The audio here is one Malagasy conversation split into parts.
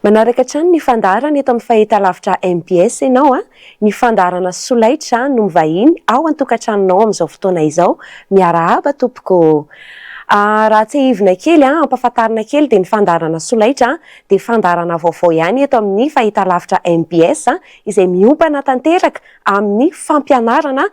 Manaraka hatrany ny fandaharana eto amin'ny fahitalavitra mbs ianao a! Ny fandaharana solaitra no mivahiny ao an-tokantranonao amin'izao fotoana izao. Miarahaba tompoko ô! Raha tsiahivina kely a, ampahafantarina kely dia ny fandaharana solaitra dia fandaharana vaovao ihany eto amin'ny fahitalavitra mbs izay miompana tanteraka amin'ny fampianarana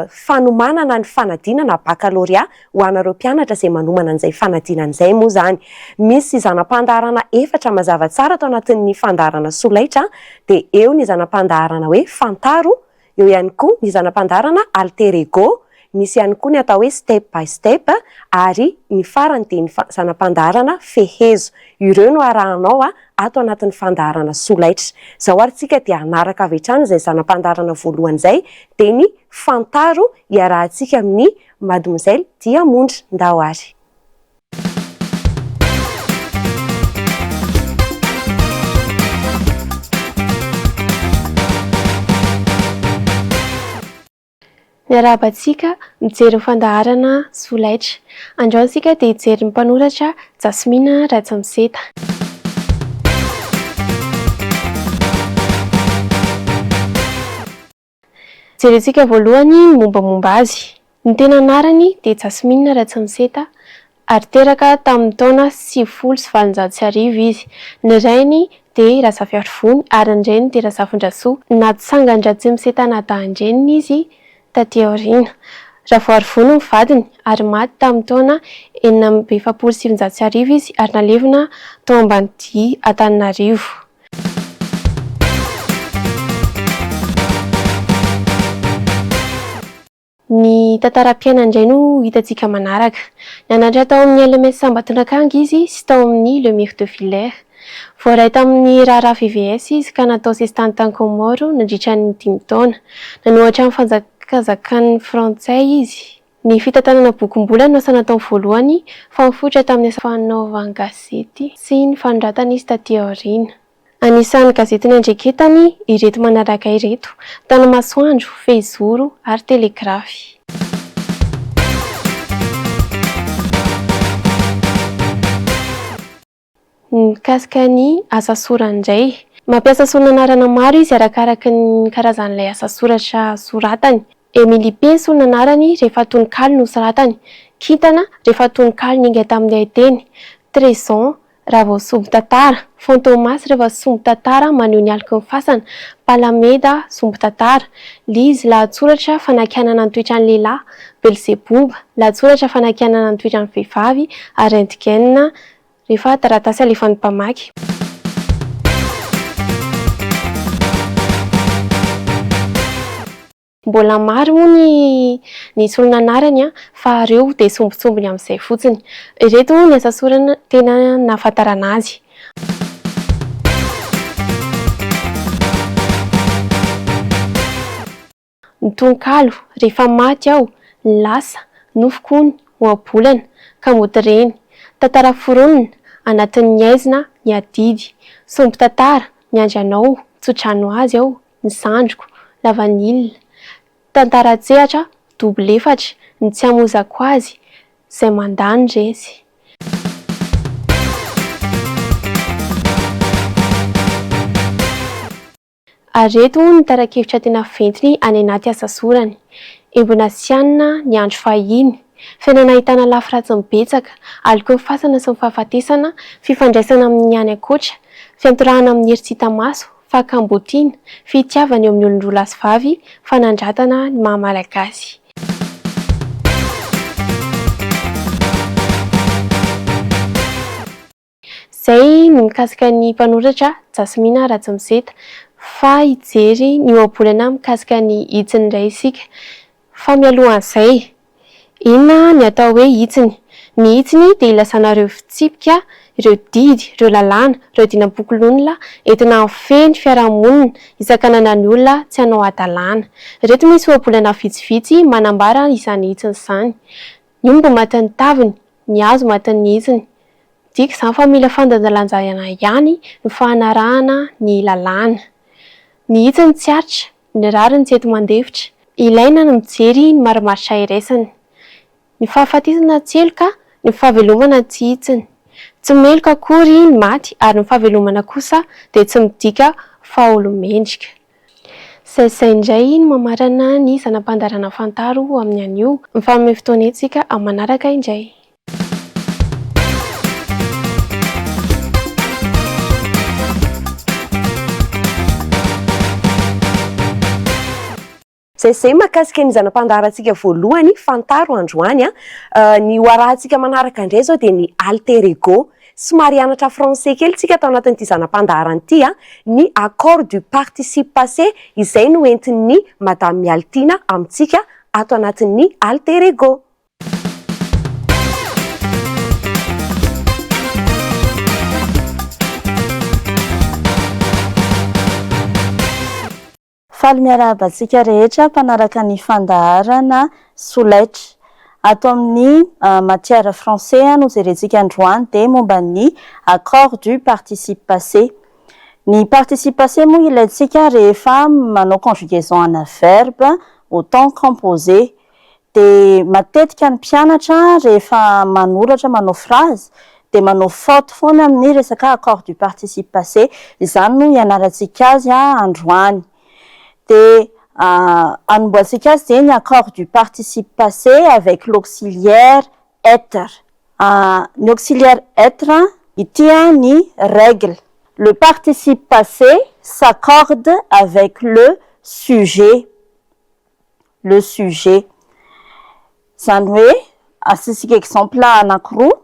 fanomanana ny fanadinana bakalorea ho anareo mpianatra izay manomana an'izay fanadinana izay moa izany. Misy zana-pandaharana efatra mazava tsara ato anatin'ny fandaharana solaitra dia eo ny zana-pandaharana hoe fantaro, eo ihany koa ny zana-pandaharana alter ego, Misy ihany koa ny atao hoe step by step ary ny farany dia ny zana-pandaharana fehezo. Ireo no arahanao ato anatin'ny fandaharana solaitra. Izao ary tsika dia hanaraka avy hatrany izay zana-pandaharana voalohany izay dia ny fantaro iarahantsika amin'ny Mademoiselle Diamondra. Ndao ary. Miarahaba antsika mijery ny fandaharana Solaitra. Androany isika dia hijery ny mpanoratra Jasmine Rajamiseta. Jerentsika voalohany ny mombamomba azy. Ny tena anarany dia Jasmine Rajamiseta ary teraka tamin'ny taona sivifolo sy valonjato sy arivo izy. Ny rainy dia i Razafiarivony ary ny reniny dia Razafindrasoa. Natsangan-dRatsimise Tanadahan-dreniny izy taty aoriana. Ravoarivony ny vadiny ary maty tamin'ny taona enina amby efapolo sy sivinjato sy arivo izy ary nalevina tao Ambanidia Antananarivo. Ny tantaram-piainany indray no hitantsika manaraka. Nianatra tao amin'ny LMS Ambatondrakanga izy sy tao amin'ny Le Mire de Villers. Voaray tamin'ny raharaha VVS izy ka natao sesitany tany Kaomoro nandritra ny dimy taona. Nanohatra ny fanjakazakan'ny Frantsay izy. Ny fitantanana bokim-bola no asa nataony voalohany fa nifoitra tamin'ny asa fanaovan-gazety sy ny fanoratana izy taty aoriana. Anisan'ny gazetin'ny Andriaketany ireto manaraka ireto, Tanamasoandro, Fehizoro ary Telegrafy. Mikasika ny asa sorany indray. Mampiasa solon'anarana maro izy arakaraka ny karazan'ilay asa soratra soratany. Emily Penso ny anarany rehefa tononkalo no soratany. Kintana rehefa tononkalo niainga tamin'ny haiteny. Trezon Raha vao sombin-tantara, Fantomas rehefa sombin-tantara maneho ny aloky ny fasana, Palameda sombin-tantara, Liz lahatsoratra fanakianana ny toetran'ny lehilahy, Belzebub lahatsoratra fanakianana ny toetran'ny vehivavy, ary Rentgen rehefa taratasy alefan'ny mpamaky. Mbola maro moa ny ny solona anarany fa reo dia sombintsombiny amin'izay fotsiny. Ireto ny asa sorany tena nahafantarana azy. Ny tononkalo, Rehefa maty aho, lasa, nofoko ny, ohabolana, ka mody reny. Tantara foronina, anatin'ny aizina, ny adidy. Sombin-tantara, miandry anao, tsodrano azy aho, ny zandriko, lavanila, tantara an-tsehatra double efatra, ny tsy hamozako azy, izay mandà ny resy. Ary ireto moa ny tara-kevitra tena ventiny any anaty asa sorany, Embona sy hanina ny andro fahiny, fiainana ahitana lafy ratsiny betsaka, alokeo ny fasana sy ny fahafatesana, fifandraisana amin'ny any ankoatra, fiantorahana amin'ny hery tsy hita maso, fakambotiana, fitiavana eo amin'ny olon-droa lahy sy vavy, fanandratana ny maha Malagasy. Izay ny mikasika ny mpanoratra Jasmina Rajamiseta fa hijery ny ohabolana mikasika ny hitsiny indray isika fa mialohan'izay Inona ny atao hoe hitsiny? Ny hitsiny dia ilazana ireo fitsipika, ireo didy, ireo lalàna, ireo dinam-pokolonla entina hahafehy ny fiarahamonina hisakanana ny olona tsy hanao hadalàna. Ireto misy ohabolana vitsivitsy manambara izany hitsiny izany, Ny omby maty ny taviny, ny hazo maty ny hitsiny. Midika izany fa mila fandanjalanjana ihany ny fanarahana ny lalàna. Ny hitsiny tsy aritra. Ny rariny tsy eto mandefitra. Ilaina ny mijery ny marimaritra iraisany. Ny fahafatesana tsy heloka, ny fahavelomana tsy hitsiny. Tsy meloka akory ny maty ary ny fahavelomana kosa dia tsy midika fahaolo-mendrika. Saisay indray ny mamarana ny zana-pandaharana Fantaro amin'ny anio. Mifanome fotoana etsy isika amin'ny manaraka indray. Zay zay mahakasika ny zana-pandaharantsika voalohany fantaro androany a. Ny ho arahantsika manaraka indray izao dia ny alter ego. Somary hianatra français kely tsika tao anatin'ity zana-pandaharana ity a. Ny accord du participe passé izay no entin'ny Madame Mialitiana amintsika ato anatin'ny alter ego. Faly miarahaba antsika rehetra mpanaraka ny fandaharana Solaitra. Ato amin'ny ah, matière français ah, no jerentsika androany dia momba ny accord du participe passé. Ny participe passé moa ilaintsika rehefa manao conjugaison ana verbe au temps composé. dia matetika ny mpianatra rehefa manoratra manao phrase dia manao faute foana amin'ny resaka accord du participe passé, izany no hianarantsika azy androany. Dia hanombohantsika azy dia ny accord du participe passé avec l'auxiliaire être. Ny auxiliaire être, ity ny règle, le participe passé s'accorde avec le sujet. le sujet. Izany hoe asisika exemple anakiroa,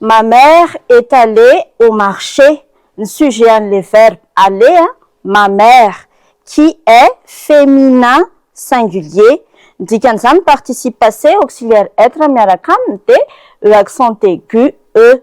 ma mère est allée au marché, ny sujet an'ilay verbe aller a, ma mère, qui est féminin singulier, ny dikan'izany participe passé auxiliaire être miaraka aminy dia e accent aigu e.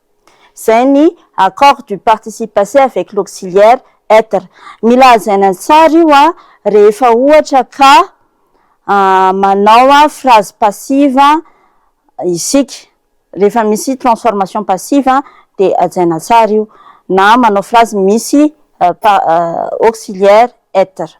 izay ny Accord du participe passé avec l'auxiliaire être. Mila hajaina tsara io rehefa ohatra ka manao phrase passive isika, rehefa misy transformation passive dia hajaina tsara io, na manao phrase misy auxiliaire être.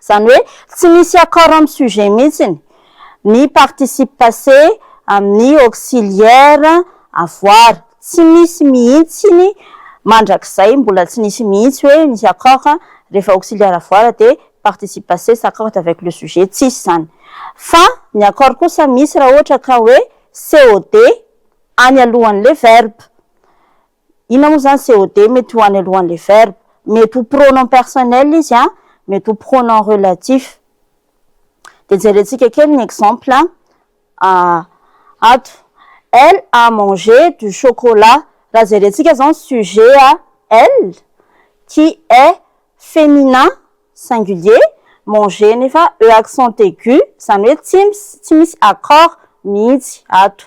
Izany hoe tsy misy accord amin'ny sujet mihitsiny ny participe passé amin'ny auxiliaire avoir. Tsy misy mihitsiny mandrakizay, mbola tsy nisy mihitsy hoe misy accord rehefa auxiliaire avoir dia participe passé s'accorde avec le sujet, tsisy izany. Fa ny accord kosa misy raha ohatra ka hoe COD any alohan'ilay verbe. Inona moa izany COD mety ho any alohan'ilay verbe? Mety ho pronom personnel izy an, mety ho pronom relatif. Dia jerentsika kely ny exemple ato. Elle a mangé du chocolat. Raha jerentsika izao ny sujet a, elle, qui est féminin, singulier, mangé nefa e accent aigu, izany hoe tsy misy accord mihitsy ato.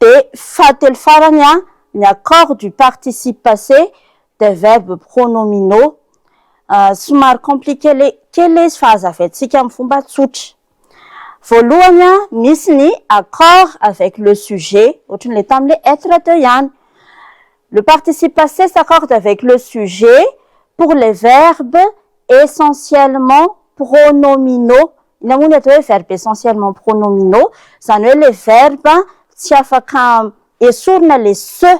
Dia fahatelo farany ny accord du participe passé des verbes pronominaux. Somary compliqué kely ilay izy fa hazavaintsika amin'ny fomba tsotra. Voalohany, misy ny accord avec le sujet, ohatran'ilay tamin'ilay être teo ihany. Le participe passé s'accorde avec le sujet pour les verbes essentiellement pronominaux Inona moa ny atao hoe verbe essentiellement pronominaux? Izany hoe ilay verbe tsy afaka esorina ilay se.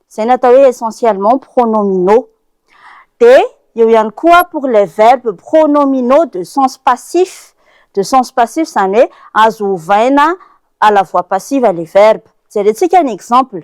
Izay no atao hoe essentiellement pronominaux. Dia eo ihany koa pour les verbes pronominaux de sens passif. De sens passif izany hoe azo ovaina à la voix passive ilay verbe. Jerentsika ny exemple.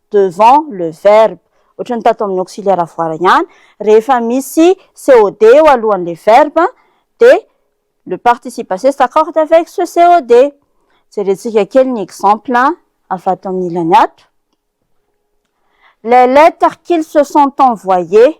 devant le verbe, ohatran'ny tato amin'ny auxiliaire avoir ihany, rehefa misy COD eo alohan'ilay verbe dia le participe passé s'accorde avec ce COD. Jerentsika kely ny exemple avy ato amin'ny ilany ato, Les lettres qu'ils se sont envoyées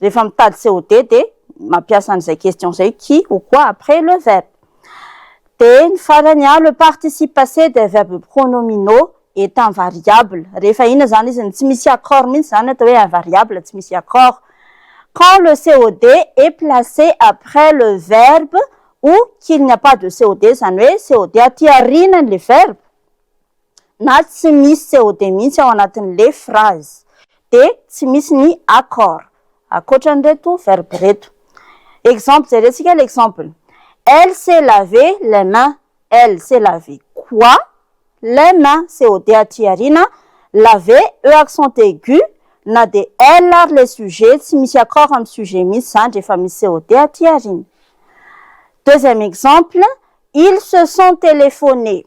Rehefa mitady COD dia mampiasa an'izay question izay qui ou quoi après le verbe. Dia ny farany a, le participe passé des verbes pronominaux est invariable. Rehefa inona izany izy no tsy misy accord mihitsy izany atao hoe invariable, tsy misy accord. Quand le COD est placé après le verbe ou qu'il n'y a pas de COD, izany hoe COD aty aorianan'ilay verbe. na tsy misy COD mihitsy ao anatin'le phrase dia tsy misy ny accord ankoatran'ireto verbe ireto. Exemple, jerentsika le exemple, Elle s'est lavé les mains. Elle s'est lavé quoi? Les mains, COD aty aoriana, lavé, E accent aigu, na dia elle ary le sujet, tsy misy accord amin'ny sujet mihitsy izany rehefa misy COD aty aoriana. Deuxième exemple, Ils se sont téléphonés.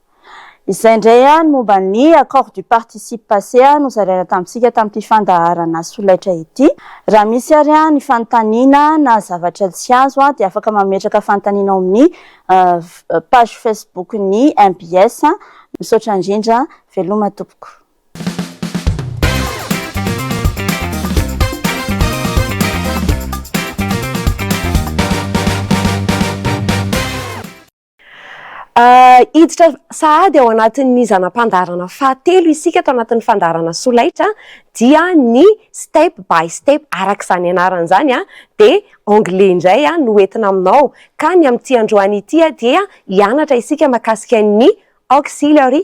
Izay indray an ny momba ny accord du participe passé nozaraina tamintsika tamin'ity fandaharana solaitra ity. Raha misy ary an ny fanontaniana na zavatra tsy azo an dia afaka mametraka fanontaniana ao amin'ny page facebook ny mbs. Misaotra indrindra. Veloma tompoko. Hiditra sahady ao anatin'ny zana-pandaharana fahatelo isika ato anatin'ny fandaharana solaitra dia ny step by step araka izany anarany izany dia anglais indray no ho entina aminao ka ny amin'ity androany ity dia hianatra isika makasika ny auxiliary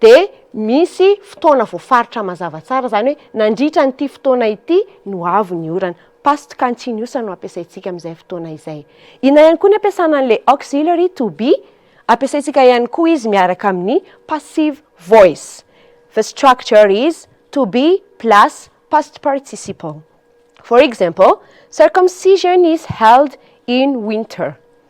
dia misy fotoana voafaritra mazava tsara, izany hoe nandritra an'ity fotoana ity no avy ny orana. Past continuous no ampiasaintsika amin'izay fotoana izay. Inona ihany koa ny ampiasana an'ilay auxiliary to be? Ampiasaintsika ihany koa izy miaraka amin'ny passive voice. The structure is to be plus past participle. For example, Circumcision is held in winter.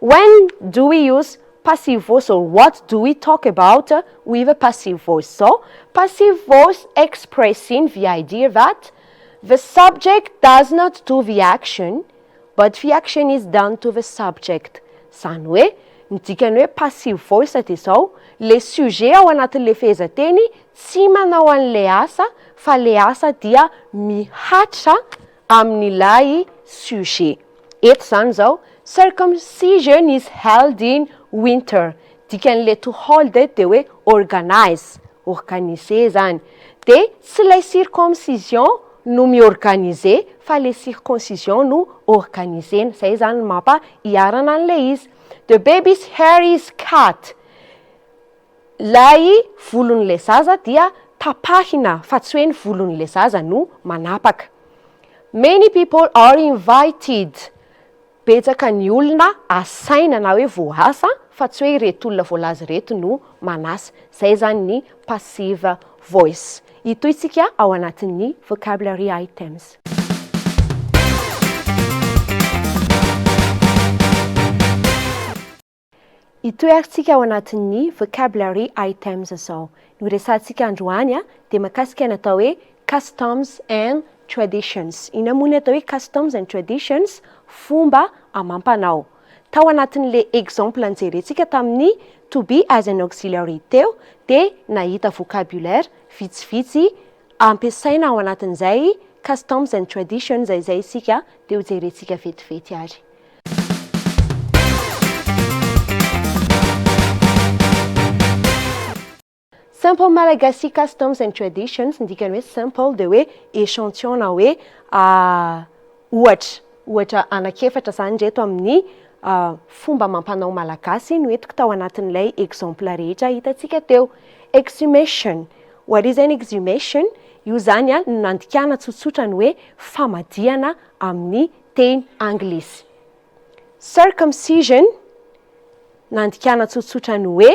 When do we use passive voice or what do we talk about with a passive voice? Izao, Passive voice expressing the idea that the subject does not do the action but the action is done to the subject. Izany hoe, ny dikan'ny hoe passive voice dia izao, ilay sujet ao anatin'ilay fehezanteny tsy manao an'ilay asa fa ilay asa dia mihatra amin'ilay sujet eto izany izao, circumcision is held in winter, dikan'ileto hold eto dia hoe organize, organiser izany, dia tsy ilay circoncision no mi-organiser fa ilay circoncision no organiser-na, izay izany no mampa-iharana an'ilay izy. The baby's hair is cut. Ilay volon'ilay zaza dia tapahina fa tsy hoe ny volon'ilay zaza no manapaka. Many people are invited, betsaka ny olona asaina na hoe voasa fa tsy hoe ireto olona voalaza ireto no manasa. Izay izany ny passive voice. Hitohy isika ao anatin'ny vocabulary items. Itoerantsika ao anatin'ny vocabulary items izao. Ny horesahantsika androany dia mahakasika ny atao hoe customs and traditions. Inona moa ny atao hoe customs and traditions? Fomba amam-panao. Tao anatin'ilay exemple nijerentsika tamin'ny to be as an auxiliary teo dia nahita vocabulaire vitsivitsy ampiasaina ao anatin'izay customs and traditions izay isika dia hojerentsika vetivety ary. Simple Malagasy Customs and Traditions, ny dikany hoe simple dia hoe échantillon na hoe ohatra. Ohatra anankiefatra izany ireto amin'ny fomba amam-panao malagasy no entiko tao anatin'ilay exemple rehetra hitantsika teo. Exhumation, what is an exhumation? Io izany no nandikana tsotsotra ny hoe famadihana amin'ny teny anglisy. Circumcision, nandikana tsotsotra ny hoe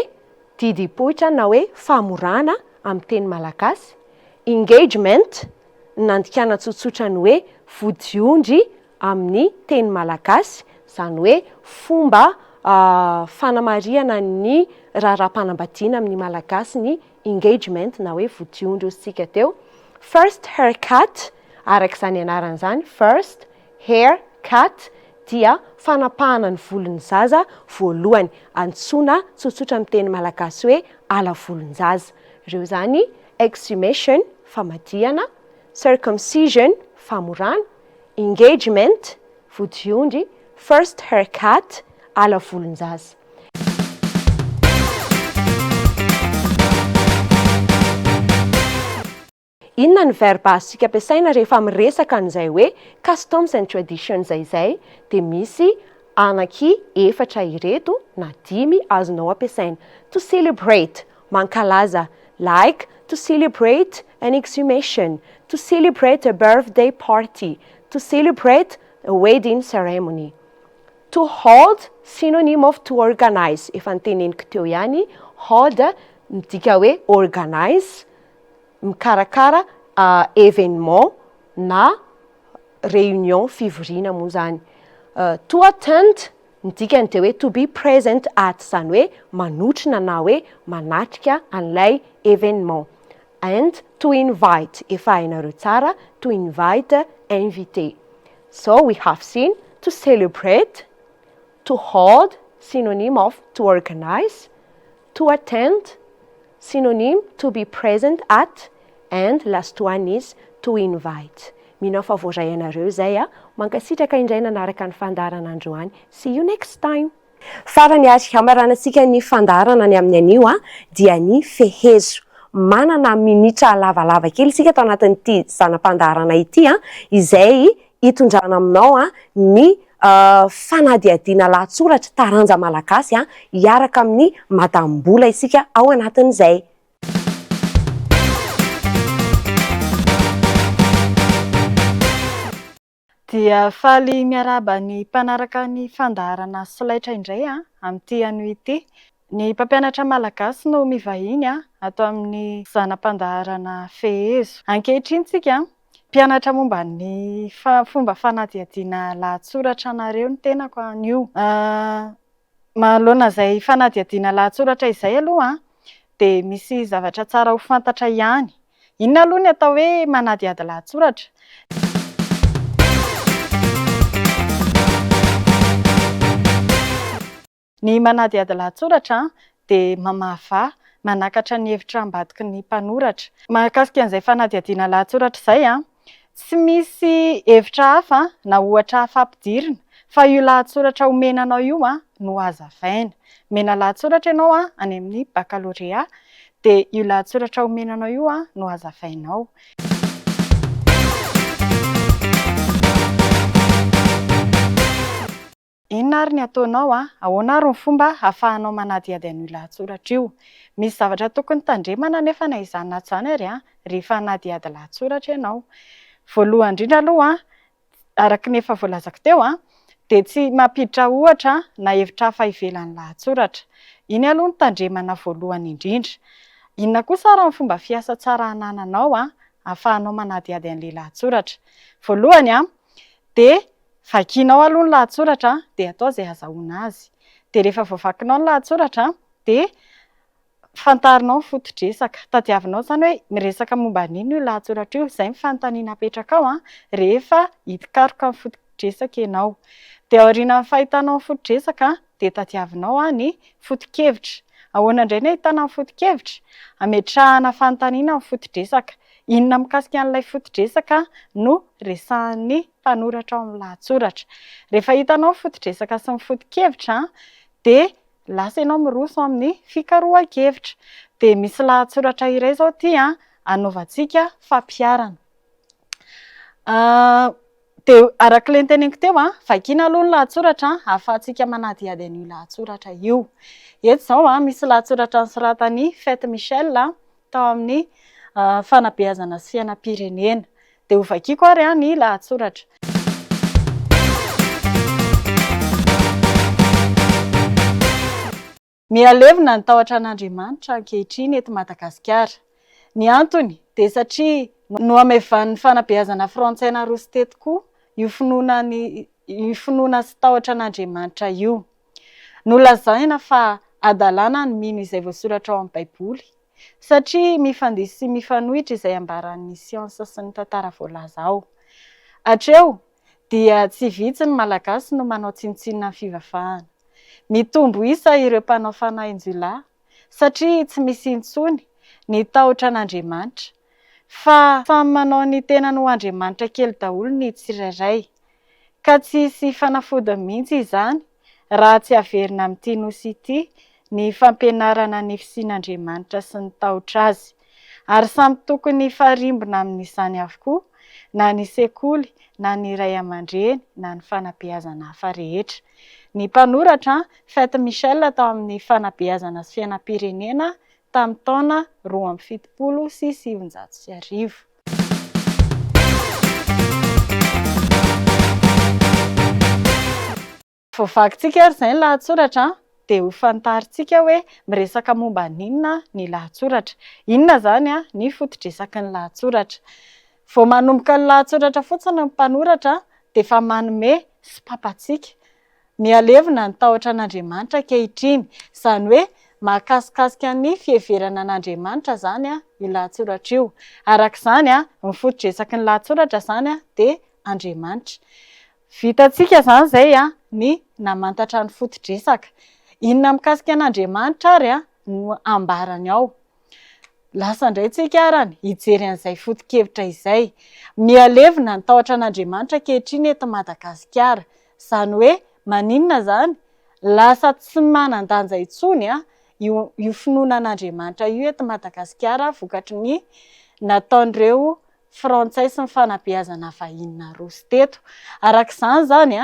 didim-poitra na hoe famorana amin'ny teny malagasy, engagement, nandikana tsotsotra ny hoe vodiondry amin'ny teny malagasy, izany hoe fomba fanamarihana ny raharaham-panambadiana amin'ny Malagasy ny engagement na hoe vodiondry hoy isika teo. First haircut, araka izany anarany izany, first, hair, cut, dia fanapahana ny volon'ny zaza voalohany, antsoina tsotsotra amin'ny teny malagasy hoe ala volon-jaza. Ireo izany, exhumation, famadihana, circumcision, famorana, engagement, vodiondry, first hair cut, ala volon-jaza. Inona ny verba azontsika ampiasaina rehefa miresaka an'izay hoe customs and traditions izay dia misy anaky efatra ireto na dimy azonao ampiasaina, to celebrate, mankalaza, like, to celebrate an exhumation, to celebrate a birthday party, to celebrate a wedding ceremony. To hold, synonym of to organize, efa noteneniko teo ihany, hold midika hoe organize, mikarakara événement na réunion fivoriana moa izany. To attend ny dikany dia hoe to be present at izany hoe manotrona na hoe manatrika an'ilay événement. And to invite efa hainareo tsara to invite invité. So we have seen to celebrate, to hold, synonyme of to organize, to attend, Synonyme, to be present at and last one is to invite. Mino aho fa voaray anareo izay a! Mankasitraka indray nanaraka ny fandaharana androany. See you next time! Farany ary hamaranantsika ny fandaharana ny amin'ny anio a! dia ny fehezo. Manana minitra lavalava kely isika tao anatin'ity zana-pandaharana ity a! izay hitondrana aminao ny fanadihadiana lahatsoratra taranja malagasy hiaraka amin'ny Madame Bola isika ao anatin'izay. Dia faly miarahaba ny mpanaraka ny fandaharana solaitra indray amin'ity anio ity. Ny mpampianatra malagasy no mivahiny ato amin'ny zana-pandaharana Fehezo. Ankehitriny tsika Mpianatra momba ny fomba fanadihadiana lahatsoratra anareo ny tenako anio. Manoloana izay fanadihadiana lahatsoratra izay aloha dia misy zavatra tsara ho fantatra ihany. Inona aloha ny atao hoe manadihady lahatsoratra? Ny manadihady lahatsoratra dia mamahavaha, manakatra ny hevitra ambadiky ny mpanoratra. Mahakasika an'izay fanadihadiana lahatsoratra izay, tsy misy hevitra hafa na ohatra hafa ampidirina fa io lahatsoratra omena anao io no hazavaina. Omena lahatsoratra ianao any amin'ny bakalorea dia io lahatsoratra omena anao io no hazavainao. Inona ary ny ataonao an? Ahoana ary ny fomba ahafahanao manadihady an'io lahatsoratra io? Misy zavatra tokony tandremana anefa na izany na izany ary an, rehefa hanadihady lahatsoratra ianao. Voalohany indrindra aloha an, araka ny efa voalazako teo an, dia tsy mampiditra ohatra na hevitra hafa ivelan'ny lahatsoratra. Iny aloha no tandremana voalohany indrindra. Inona kosa ary ny fomba fiasa tsara anananao an, ahafahanao manadihady an'ilay lahatsoratra? Voalohany an, dia Vakianao aloha ny lahatsoratra dia atao izay azahoana azy. Dia rehefa voavakinao ny lahatsoratra dia fantarinao ny foto-dresaka. Tadiavinao izany hoe miresaka momba ny inona io lahatsoratra io. Izay ny fanontaniana apetrakao rehefa hikaroka ny foto-dresaka ianao. Dia aorianan'ny fahitanao ny foto-dresaka dia tadiavinao ny foto-kevitra. Ahoana indray no ahitana ny foto-kevitra? Ametrahana fanontaniana ny foto-dresaka. Inona mikasika an'ilay foto-dresaka no resahan'ny mpanoratra ao amin'ny lahatsoratra. Rehefa hitanao ny foto-dresaka sy ny foto-kevitra dia lasa ianao miroso amin'ny fikarohan-kevitra. Dia misy lahatsoratra iray izao ity anaovantsika fampiharana. Dia araka ilay noteneniko teo, vakiana aloha ny lahatsoratra ahafahantsika manadihady an'io lahatsoratra io. Eto izao misy lahatsoratra nosoratan'i Fate Michel tao amin'ny fanabeazana sy fiainam-pirenena. Dia hovakiko ary ny lahatsoratra. Mihalevina ny tahotra an'Andriamanitra ankehitriny eto Madagasikara. Ny antony dia satria nohamevan'ny fanabeazana frantsay naroso teto koa io finoana sy tahotra an'Andriamanitra io. Nolazaina fa hadalana ny mino izay voasoratra ao amin'ny Baiboly, satria mifandihy sy mifanohitra izay ambaran'ny siansa sy ny tantara voalaza ao. Hatreo, dia tsy vitsy ny Malagasy no manao tsinontsinona ny fivavahana. Mitombo isa ireo mpanao fanahin-jiolahy, satria tsy misy intsony ny tahotra an'Andriamanitra. Fa samy manao ny tenany ho andriamanitra kely daholo ny tsirairay. Ka tsy hisy fanafodiny mihitsy izany raha tsy averina amin'ity Nosy ity ny fampianarana ny fisian'Andriamanitra sy ny tahotra Azy. Ary samy tokony hifarimbona amin'izany avokoa na ny sekoly na ny ray aman-dreny na ny fanabeazana hafa rehetra. Ny mpanoratra, Fate Michel tao amin'ny Fanabeazana sy Fiainam-pirenena, tamin'ny taona roa amby fitopolo sy sivinjato sy arivo. Vao vakintsika ary izay ny lahatsoratra dia ho fantarintsika hoe miresaka momba an'inona ny lahatsoratra. Inona izany ny foto-dresaky ny lahatsoratra. Vao manomboka ny lahatsoratra fotsiny ny mpanoratra dia efa manome sopapa antsika Mihalevona ny tahotra an'Andriamanitra ankehitriny. Izany hoe mahakasikasika ny fiheverana an'Andriamanitra izany io lahatsoratra io. Araka izany, ny foto-dresaky ny lahatsoratra izany dia Andriamanitra. Vitantsika izany izay ny namantatra ny foto-dresaka. Inona mikasika an'Andriamanitra ary no ambarany ao? Lasa indray tsika arany hijery an'izay foto-kevitra izay. Mihalevina ny tahotra an'Andriamanitra ankehitriny eto Madagasikara. Izany hoe maninona izany? Lasa tsy manan-danja intsony io io finoana an'Andriamanitra io eto Madagasikara vokatry ny nataon'ireo frantsay sy ny fanabeazana vahiny naroso teto. Araka izany izany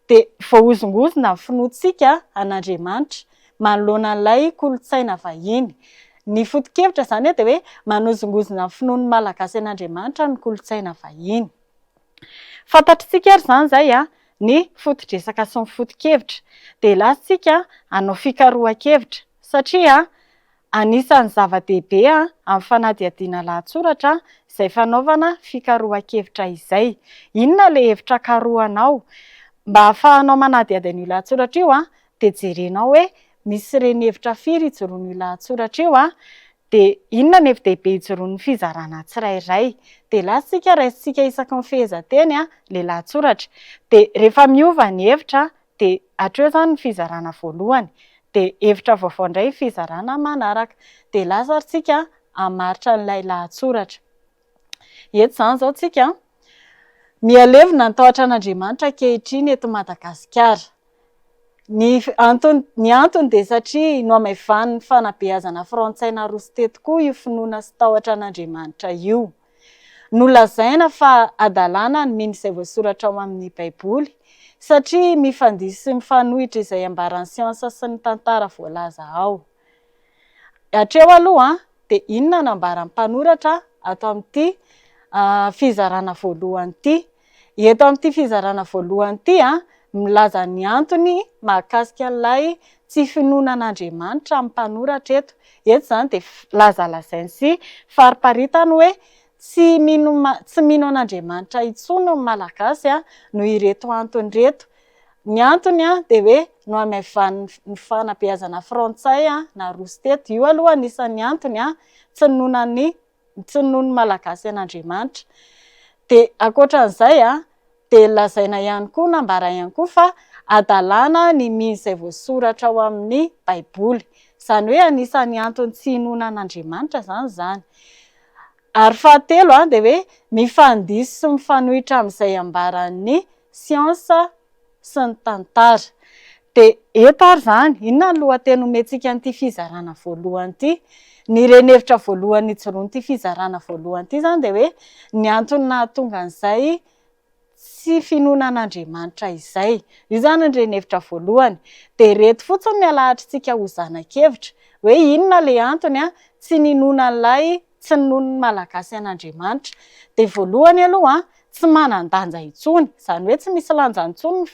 dia voahozongozona ny finoantsika an'Andriamanitra manoloana an'ilay kolontsaina vahiny. Ny foto-kevitra izany dia hoe manozongozona ny finoan'ny Malagasy an'Andriamanitra ny kolontsaina vahiny. Fantatritsika ary izany izay ny foto-dresaka sy ny foto-kevitra. Dia latsaka hanao fikarohan-kevitra satria Anisan'ny zava-dehibe amin'ny fanadihadiana lahatsoratra izay fanaovana fikarohan-kevitra izay. Inona ilay hevitra karohanao? Mba hahafahanao manadihady an'io lahatsoratra io dia jerenao hoe misy reni-hevitra firy ijoroan'io lahatsoratra io, dia inona ny hevi-dehibe ijoroan'ny fizarana tsirairay. Dia lasa isika raisintsika isaky ny fehezanteny ilay lahatsoratra. Dia rehefa miova ny hevitra dia hatreo izany ny fizarana voalohany dia hevitra vaovao indray ny fizarana manaraka dia lasa ary tsika hamaritra an'ilay lahatsoratra eto izany izao tsika mihalevina ny tahotra an'Andriamanitra ankehitriny eto Madagasikara ny antony ny antony dia satria nohamaivanin'ny fanabeazana frantsay naroso teto koa io finoana sy tahotra an'Andriamanitra io Nolazaina fa hadalana ny mino izay voasoratra ao amin'ny Baiboly, satria mifandihy sy mifanohitra izay ambaran'ny siansa sy ny tantara voalaza ao. Hatreo aloha, dia inona no ambaran'ny mpanoratra ato amin'ity fizarana voalohany ity? Eto amin'ity fizarana voalohany ity, milaza ny antony mahakasika an'ilay tsy finoana an'Andriamanitra ny mpanoratra eto. Eto izany dia lazalazainy sy fariparitany hoe tsy mino tsy mino an'Andriamanitra intsony ny Malagasy noho ireto antony ireto. Ny antony dia hoe nohamaivanin'ny fanabeazana frantsay naroso teto. Io aloha anisan'ny antony tsy ninoana an'i ntsinoan'ny Malagasy an'Andriamanitra. Dia ankoatran'izay dia lazaina ihany koa na ambara ihany koa fa hadalana ny mino izay voasoratra ao amin'ny Baiboly. Izany hoe anisan'ny antony tsy hinoana an'Andriamanitra izany izany. Ary fahatelo dia hoe mifandiso sy mifanohitra amin'izay ambaran'ny siansa sy ny tantara. Dia eto ary izany, inona ny lohateny omentsika an'ity fizarana voalohany ity? Ny renihevitra voalohany ijoroan'ity fizarana voalohany ity izany dia hoe ny antony nahatonga an'izay tsy finoana an'Andriamanitra izay. Io izany ny renihevitra voalohany. Dia ireto fotsiny no alahatrintsika ho zana-kevitra, hoe inona ilay antony tsy ninoana an'ilay tsy noho ny Malagasy an'Andriamanitra, dia voalohany aloha tsy manan-danja intsony, izany hoe tsy misy lanjany intsony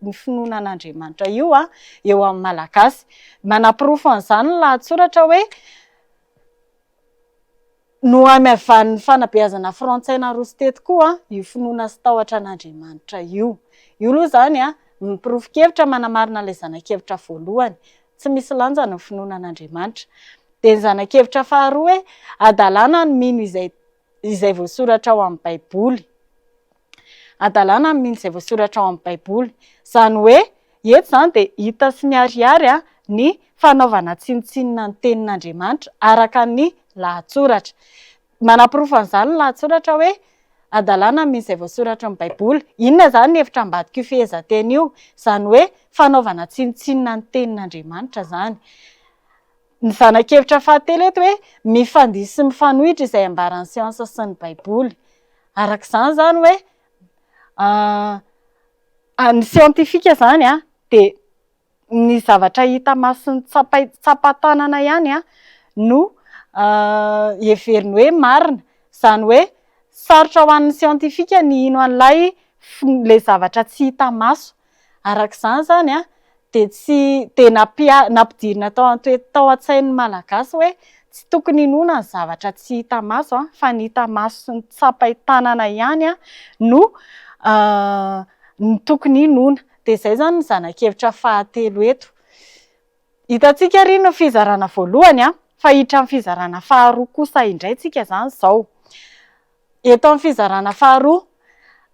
ny finoana an'Andriamanitra io eo amin'ny Malagasy. Manaporofo an'izany ny lahatsoratra hoe Nohamaivàn'ny fanabeazana frantsay naroso teto koa io finoana sy tahotra an'Andriamanitra io. Io aloha izany miporofo-kevitra manamarina ilay zana-kevitra voalohany. tsy misy lanjany ny finoana an'Andriamanitra. Dia ny zanak'hevitra faharoa hoe, hadalana ny mino izay izay voasoratra ao amin'ny Baiboly. Hadalana ny mino izay voasoratra ao amin'ny Baiboly. Izany hoe, eto izany dia hita sy miharihary ny fanaovana tsinontsinona ny tenin'Andriamanitra araka ny lahatsoratra. Manaporofo an'izany ny lahatsoratra hoe Hadalana amin'izay voasoratry ny Baiboly. Inona izany io hevitra ambadik'io fehezanteny io? Izany hoe fanaovana tsinontsinona ny Tenin'Andriamanitra izany. Ny zanak'evitra fahatelo eto hoe mifandihy sy mifanohitra izay ambaran'ny siansa sy ny Baiboly. Araka izany izany hoe ny siantifika izany dia. ny zavatra hita maso ny tsapai tsapa tanana ihany an no heveriny hoe marina izany hoe sarotra ho an'ny siantifika ny hino an'ilay ilay zavatra tsy hita maso araka izany izany an dia tsy dia nampia nampidirina tao antoe tao an-tsain'ny malagasy hoe tsy tokony hinoana ny zavatra tsy hita maso an fa ny hita maso sy ny tsapai tanana ihany an no no tokony hinoana Dia izay izany ny zanak'hevitra fahatelo eto. Hitantsika ary ny fizarana voalohany an, fa hiditra amin'ny fizarana faharoa kosa indray tsika izany izao. Eto amin'ny fizarana faharoa,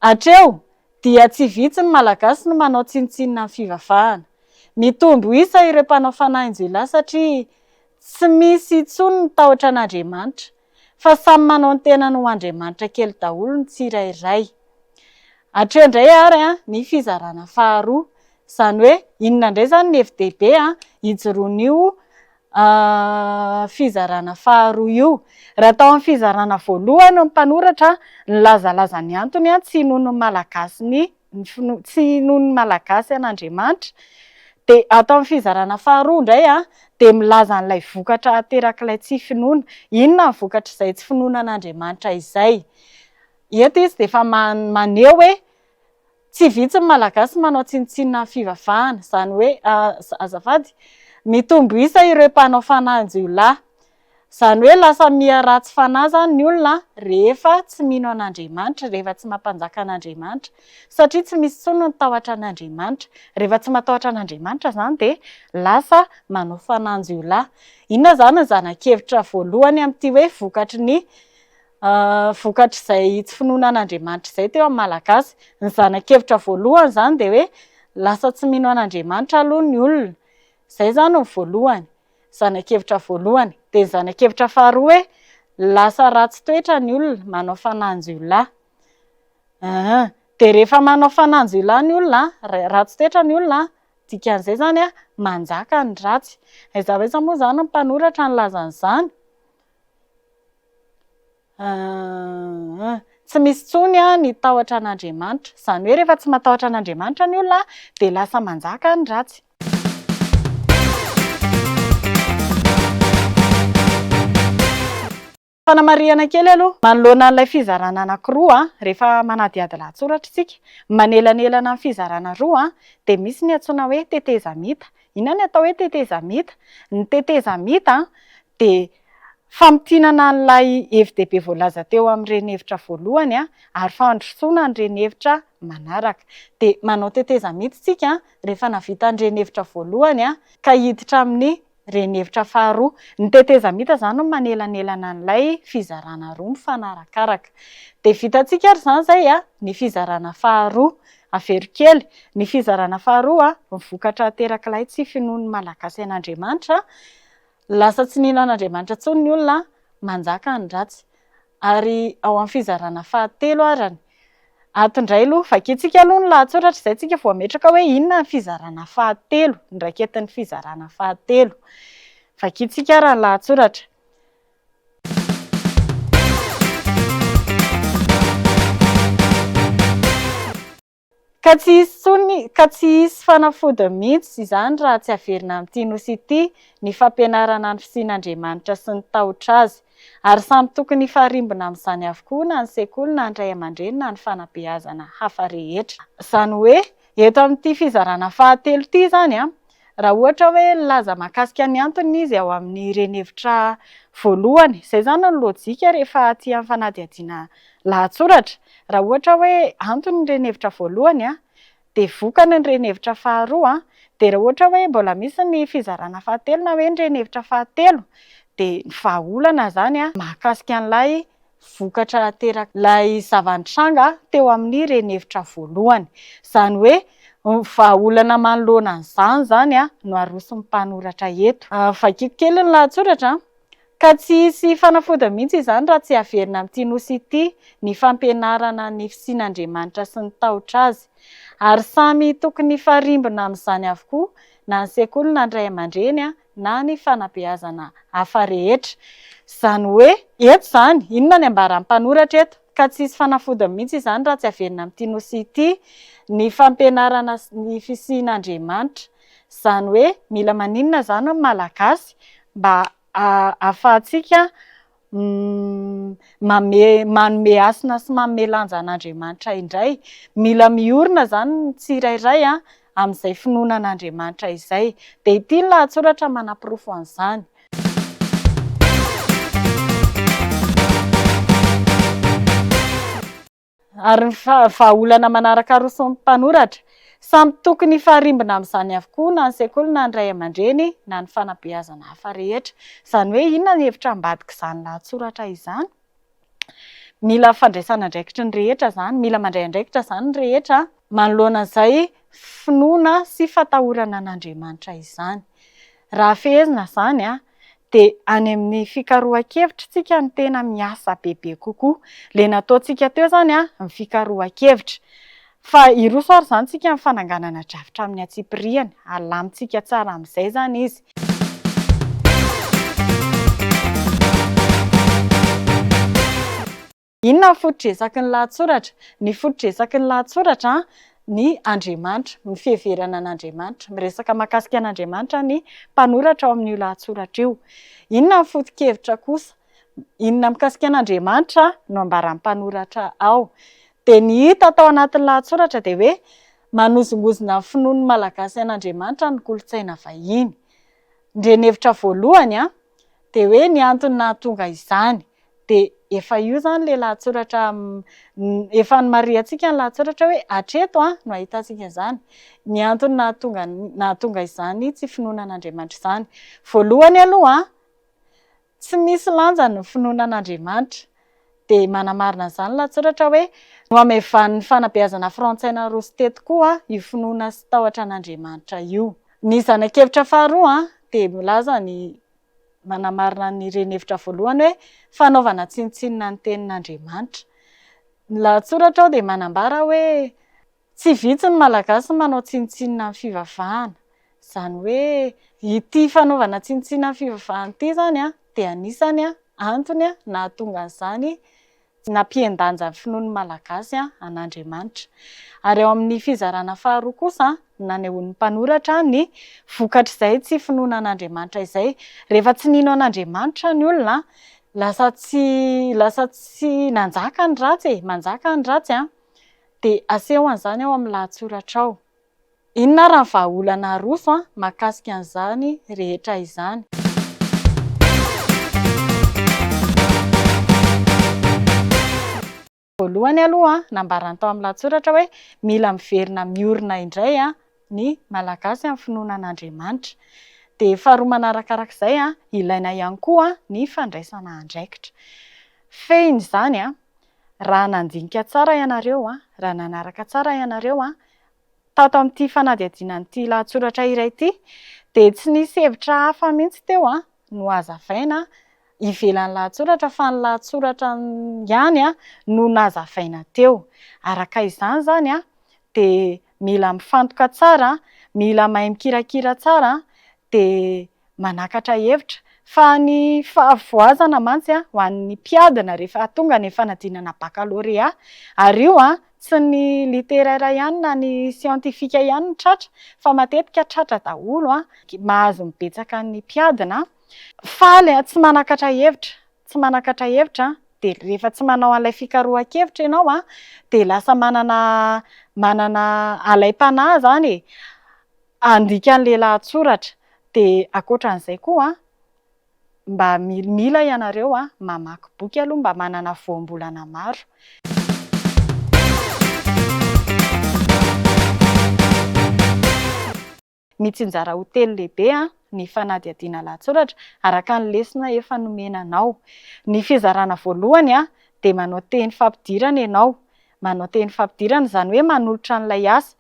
hatreo dia tsy vitsy ny Malagasy no manao tsinontsinona ny fivavahana. Mitombo isa ireo mpanao fanahin-jiolahy satria tsy misy intsony ny tahotra an'Andriamanitra. fa samy manao ny tenany ho andriamanitra kely daholo ny tsirairay. Hatreo indray ary ny fizarana faharoa, izany hoe inona indray izany ny hevi-dehibe ijoroan'io fizarana faharoa io. Raha tao amin'ny fizarana voalohany ny mpanoratra nilazalaza ny antony tsy hinoan'ny Malagasy ny ny finoana, tsy inoan'ny Malagasy an'Andriamanitra, dia ato amin'ny fizarana faharoa indray dia milaza an'ilay vokatra aterak'ilay tsy finoana, inona ny vokatr'izay tsy finoana an'Andriamanitra izay? eto izy dia efa maneho hoe tsy vitsy ny Malagasy manao tsinontsinona ny fivavahana, izany hoe azafady, mitombo isa ireo mpanao fanahin-jiolahy, Izany hoe lasa miha ratsy fanahy izany ny olona rehefa tsy mino an'Andriamanitra, rehefa tsy mampanjaka an'Andriamanitra, satria tsy misy intsony ny tahotra an'Andriamanitra. Rehefa tsy matahotra an'Andriamanitra izany dia lasa manao fanan-jiolahy. Inona izany ny zana-kevitra voalohany amin'ity hoe vokatry ny vokatr'izay tsy finoana an'Andriamanitra izay teo amin'ny Malagasy? Ny zana-kevitra voalohany izany dia hoe lasa tsy mino an'Andriamanitra aloha ny olona. Izay izany no voalohany. Zanakevitra voalohany. Dia ny zanakevitra faharoa hoe lasa ratsy toetra ny olona, manao fananjiolahy. Aa! Dia rehefa manao fananjiolahy ny olona, ratsy toetra ny olona, dikan'izay izany hoe manjaka ny ratsy. Aiza ho aiza moa izany ny mpanoratra nilaza an'izany? Aa! Tsy misy intsony ny tahotra an'Andriamanitra. Izany hoe rehefa tsy matahotra an'Andriamanitra ny olona dia lasa manjaka ny ratsy. Fanamarihana kely aloha, manoloana an'ilay fizarana anankiroa rehefa manadihady lahatsoratra isika, manelanelana ny fizarana roa dia misy ny antsoina hoe tetezamita. Inona ny atao hoe tetezamita? Ny tetezamita dia famintinana an'ilay hevi-dehibe voalaza teo amin'ireny hevitra voalohany ary fandrosoana an'ireny hevitra manaraka. Dia manao tetezamita isika rehefa navita ny renihevitra voalohany ka hiditra amin'ny renihevitra faharoa. Ny tetezamita izany no manelanelana an'ilay fizarana roa mifanarakaraka. Dia vitantsika ary izany izay ny fizarana faharoa. Avero kely, ny fizarana faharoa, ny vokatra aterak'ilay tsy finoan'ny Malagasy an'Andriamanitra, Lasa tsy mino an'Andriamanitra intsony ny olona, manjaka ny ratsy. Ary ao amin'ny fizarana fahatelo arany. Ato indray aloha, vakintsika aloha ny lahatsoratra izay tsika vao hametraka hoe inona ny fizarana fahatelo, ny raiketin'ny fizarana fahatelo. Vakintsika ary ny lahatsoratra. Ka tsy hisy intsony, ka tsy hisy fanafodiny mihitsy izany raha tsy averina amin'ity Nosy ity ny fampianarana ny fisian'Andriamanitra sy ny tahotra Azy. Ary samy tokony hifarimbona amin'izany avokoa na ny sekoly na ny ray aman-dreny na ny fanabeazana hafa rehetra. Izany hoe, eto amin'ity fizarana fahatelo ity izany, Raha ohatra hoe nilaza mahakasika ny antony izy ao amin'ny renihevitra voalohany, izay izany no lojika rehefa aty amin'ny fanadihadiana lahatsoratra. Raha ohatra hoe antony ny renihevitra voalohany, dia vokany ny renihevitra faharoa, dia raha ohatra hoe mbola misy ny fizarana fahatelo na hoe ny renihevitra fahatelo, dia ny vahaolana izany mahakasika an'ilay vokatra ateraky ilay zava-nitranga teo amin'ny renihevitra voalohany. Izany hoe vahaolana manoloana an'izany izany no aroson'ny mpanoratra eto. Vakiko kely ny lahatsoratra, Ka tsy hisy fanafodiny mihitsy izany raha tsy averina amin'ity nosy ity ny fampianarana ny fisian'Andriamanitra sy ny tahotra Azy. Ary samy tokony hifarimbona amin'izany avokoa na ny sekoly na ny ray aman-dreny, na ny fanabeazana hafa rehetra. Izany hoe, eto izany, inona ny ambaran'ny mpanoratra eto? Ka tsy hisy fanafodiny mihitsy izany raha tsy averina amin'ity Nosy ity ny fampianarana ny fisian'Andriamanitra. Izany hoe, mila maninona izany ny Malagasy mba ahafahantsika Manome manome hasina sy manome lanja an'Andriamanitra indray. Mila miorina izany ny tsirairay amin'izay finoana an'Andriamanitra izay. Dia ity ny lahatsoratra manaporofo an'izany. Ary ny vahaolana manaraka aroson'ny mpanoratra, samy tokony hifarimbona amin'izany avokoa na ny sekoly na ny ray aman-dreny na ny fanabeazana hafa rehetra. Izany hoe inona ny hevitra ambadik'izany lahatsoratra izany? Mila fandraisana andraikitry ny rehetra izany, mila mandray andraikitra izany ny rehetra manoloana izay finoana sy fatahorana an'Andriamanitra izany. Raha fehezina izany, dia any amin'ny fikarohan-kevitra isika no tena miasa bebe kokoa. Ilay nataontsika teo izany ny fikarohan-kevitra. Fa hiroso ary izany isika amin'ny fananganana drafitra amin'ny antsipiriany. Alamintsika tsara amin'izay izany izy. Inona ny foto-dresaky ny lahatsoratra? Ny foto-dresaky ny lahatsoratra ny Andriamanitra, ny fiheverana an'Andriamanitra. Miresaka mahakasika an'Andriamanitra ny mpanoratra ao amin'io lahatsoratra io. Inona ny foto-kevitra kosa? Inona mikasika an'Andriamanitra no ambaran'ny mpanoratra ao? Dia ny hita tao anatin'ny lahatsoratra dia hoe manozongozona ny finoan'ny Malagasy an'Andriamanitra ny kolontsaina vahiny. Ny renihevitra voalohany dia hoe ny antony nahatonga izany. Dia efa io izany ilay lahatsoratra efa nomarihantsika ny lahatsoratra hoe hatreto no hahitantsika izany. Ny antony nahatonga nahatonga izany tsy finoana an'Andriamanitra izany. Voalohany aloha, tsy misy lanjany ny finoana an'Andriamanitra. Dia manamarina an'izany ny lahatsoratra hoe Nohamaivanin'ny fanabeazana frantsay naroso teto koa io finoana sy tahotra an'Andriamanitra io. Ny zanak'evitra faharoa dia milaza ny manamarina an'ireny hevitra voalohany hoe fanaovana tsinontsinona ny tenin'Andriamanitra. Ny lahatsoratra ao dia manambara hoe tsy vitsy ny Malagasy no manao tsinontsinona ny fivavahana. Izany hoe ity fanaovana tsinontsinona ny fivavahana ity izany dia anisan'ny antony nahatonga an'izany Tsy nampihen-danja ny finoan'ny Malagasy an'Andriamanitra. Ary ao amin'ny fizarana faharoa kosa no nanehoan'ny mpanoratra ny vokatr'izay tsy finoana an'Andriamanitra izay. Rehefa tsy nino an'Andriamanitra ny olona, lasa tsy lasa tsy nanjaka ny ratsy e, manjaka ny ratsy an! Dia aseho an'izany ao amin'ny lahatsoratra ao. Inona ary ny vahaolana aroso an mahakasika an'izany rehetra izany? Voalohany aloha an, nambarany tao amin'ny lahatsoratra hoe mila miverina miorina indray an ny Malagasy amin'ny finoana an'Andriamanitra. Dia faharoa manarakarak'izay an, ilaina ihany koa ny fandraisana andraikitra. Fehiny izany an, raha nandinika tsara ianareo an, raha nanaraka tsara ianareo an, tato amin'ity fanadihadiana an'ity lahatsoratra iray ity dia tsy nisy hevitra hafa mihitsy teo no hazavaina ivelan'ny lahatsoratra fa ny lahatsoratra ihany no nazavaina teo. Araka izany izany dia mila mifantoka tsara, mila mahay mikirakira tsara dia Manakatra hevitra fa ny fahavoazana mantsy ho an'ny mpiadina rehefa tonga ny fanadinana bakalorea. Ary io tsy ny literera ihany na ny siantifika ihany no tratra fa matetika tratra daholo. Mahazo ny betsaka ny mpiadina. Faly, tsy manakatra hevitra, tsy manakatra hevitra, dia rehefa tsy manao an'ilay fikarohan-kevitra ianao dia lasa manana manana alaim-panahy izany e. Handika an'ilay lahatsoratra. Dia ankoatra an'izay koa, mba mila ianareo mamaky boky aloha mba manana voambolana maro. Mitsinjara ho telo lehibe ny fanadihadiana lahatsoratra, araka ny lesona efa nomena anao. Ny fizarana voalohany dia manao teny fampidirana ianao, Manao teny fampidirana, izany hoe manolotra an'ilay asa.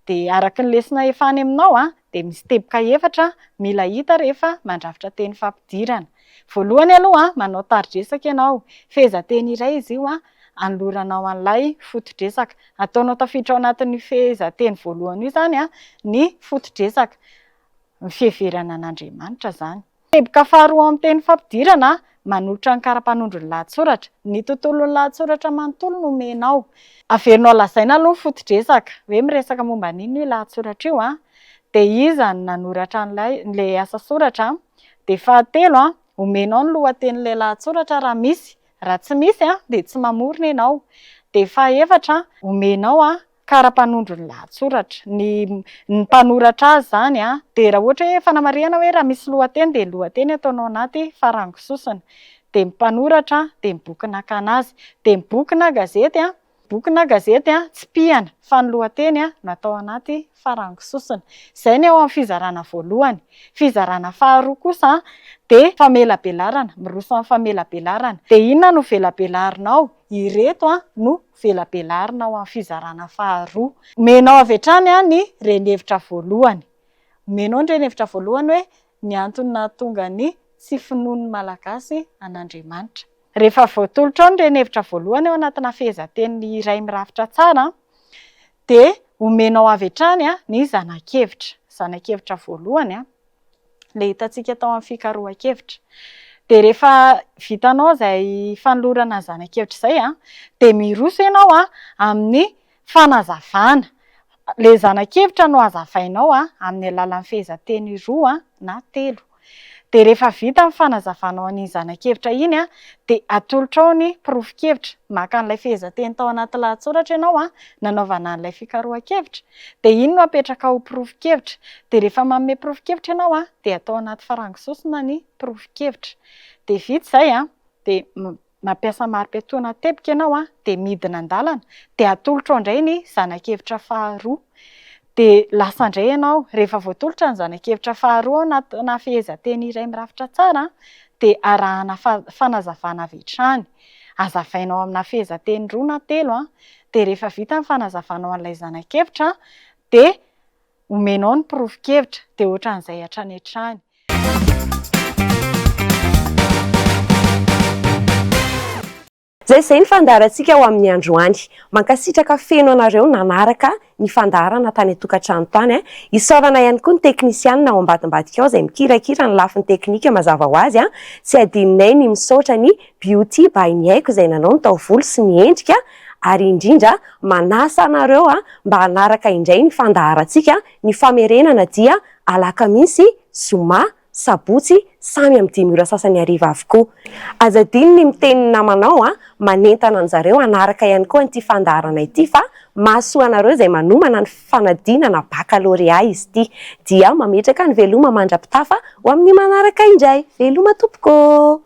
Dia araka ny lesona efa any aminao dia misy teboka efatra mila hita rehefa mandrafitra teny fampidirana. Voalohany aloha, manao tari-dresaka ianao. Fehezanteny iray izy io anoloranao an'ilay foto-dresaka. Ataonao tafiditra ao anatin'io fehezanteny voalohany io izany ny foto-dresaka. Ny fiheverana an'Andriamanitra izany. Teboka faharoa ao amin'ny teny fampidirana, manolotra ny kara-panondro ny lahatsoratra. Ny tontolon'ny lahatsoratra manontolo no omenao. Averinao lazaina aloha ny foto-dresaka, hoe miresaka momba an'inona io lahatsoratra io, dia iza no nanoratra an'ilay asa soratra, dia fahatelo, omenao ny lohatenin'ilay lahatsoratra raha misy, raha tsy misy dia tsy mamorona ianao, dia fahaefatra, omenao kara-panondro ny lahatsoratra. Ny ny mpanoratra azy izany dia raha ohatra hoe fanamarihana hoe raha misy lohateny dia ny lohateny ataonao anaty farango sosona. Dia ny mpanoratra dia ny boky nakana azy. Dia ny boky na gazety boky na gazety tsipihana fa ny lohateny no atao anaty farango sosona. Izay ny ao amin'ny fizarana voalohany. Fizarana faharoa kosa dia famelabelarana, miroso amin'ny famelabelarana. Dia inona no velabelarinao? Ireto no velabelarina ao amin'ny fizarana faharoa. Omenao avy hatrany ny renihevitra voalohany. Omenao ny renihevitra voalohany hoe ny antony nahatonga ny tsy finoan'ny Malagasy an'Andriamanitra. Rehefa voatolotra ao ny renihevitra voalohany ao anatina fehezanteny iray mirafitra tsara dia omenao avy hatrany ny zanakevitra, zanakevitra voalohany ilay hitantsika tao amin'ny fikarohan-kevitra. Dia rehefa vitanao izay fanolorana ny zanakevitra izay dia miroso ianao amin'ny fanazavana ilay zanakevitra nohazavainao amin'ny alalan'ny fehezanteny roa na telo. Dia rehefa vita ny fanazavanao an'iny zanak'evitra iny dia atolotrao ny porofon-kevitra, maka an'ilay fehezanteny tao anaty lahatsoratra ianao nanaovana an'ilay fikarohan-kevitra, dia iny no apetrakao ho porofon-kevitra, dia rehefa manome porofon-kevitra ianao dia atao anaty farango sosona ny porofon-kevitra. Dia vita izay dia. Mampiasa mari-piatoana teboka ianao dia midina an-dalana dia atolotrao indray ny zanak'evitra faharoa. Dia lasa indray ianao. Rehefa voatolotra ny zanak'evitra faharoa ao anatina fehezanteny iray mirafitra tsara dia arahana fanazavana avy hatrany. Azavainao amina fehezanteny roa na telo dia rehefa vita ny fanazavana ho an'ilay zanak'evitra dia Omenao ny porofon-kevitra dia ohatran'izay hatrany hatrany. Izay izay ny fandaharantsika ho amin'ny androany. Mankasitraka feno anareo nanaraka ny fandaharana tany an-tokantrano tany. Isaorana ihany koa ny teknisianina ao ambadimbadika ao izay mikirakira ny lafiny teknika mazava ho azy. Tsy adinonay ny misaotra ny Beauty by Ny Haiko izay nanao ny taovolo sy ny endrika. ary indrindra manasa anareo mba hanaraka indray ny fandaharantsika ny famerenana dia alakamisy, zoma, sabotsy samy amin'ny dimy ora sasany hariva avokoa. Aza adino ny miteny ny namanao manentana anjareo hanaraka ihany koa an'ity fandaharana ity fa mahasoa anareo izay manomana ny fanadinana bakalorea izy ity dia mametraka ny veloma mandra-pitafa ho amin'ny manaraka indray. Veloma tompoko ô!